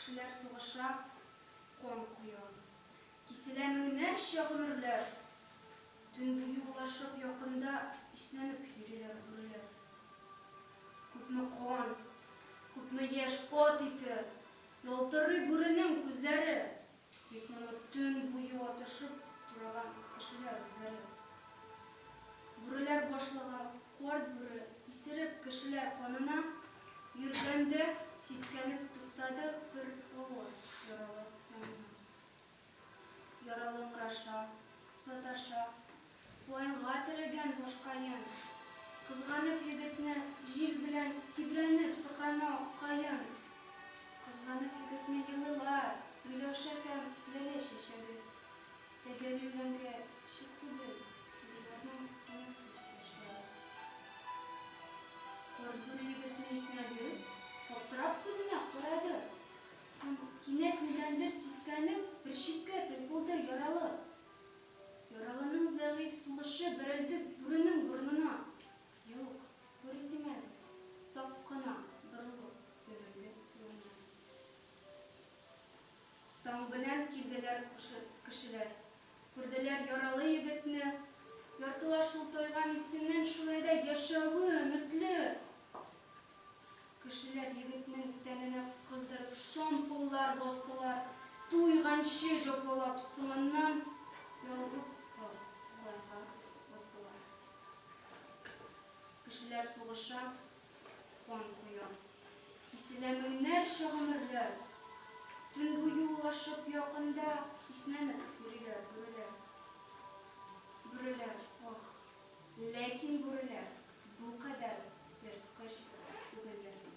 Кешеләр сугыша, кан коя. Киселә меңнәрчә гомерләр. Төн буе улашып, якында иснәнеп йөриләр бүреләр. Күпме кан, күпме яшь, ат ите. Ялтырый бүренең күзләре. Бик моны төн буе ватышып тураган кешеләр үзләре. Бүреләр башлыгы Карт бүре исереп кешеләр канына йөргәндә сискәнеп туктады бер авыр яралы янына. Яралы ыңгыраша, саташа. Ваенга терәгән башкаен. Кызганып егетне җил белән тибрәнеп сыкрана каен. Кызганып егетне елыйлар Миләүшә һәм Ләлә чәчәге. Тәгәри үләнгә чүп түгел Тегеләрнең күңелсез яшьләре. Кар бүре егетне иснәде, Аптырап сүзенә сорады. Һәм кинәт нидәндер сискәнеп Бер читкә тайпылды яралы. Яралының зәгыйфь сулышы берелде бүренең борынына. Юк, бүре тимәде, сак кына борылып йөгерде бүренең. Таң белән килделәр кешеләр. Күрделәр яралы егетне. Яртылаш ул тайган исеннән шулай да яшәве өметле! Кешеләр егетнең тәненә кыздырып шомполлар бастылар, туйганчы җофолап, соңыннан ялгыз калырга кустылар. Кешеләр сугыша, кан коя, киселә меңнәрчә гомерләр. Төн буе улашып якында киснәнеп йөриләр бүреләр. Бүреләр, ох! Ләкин бүреләр бу кадәр ерткыч түгелдер бит.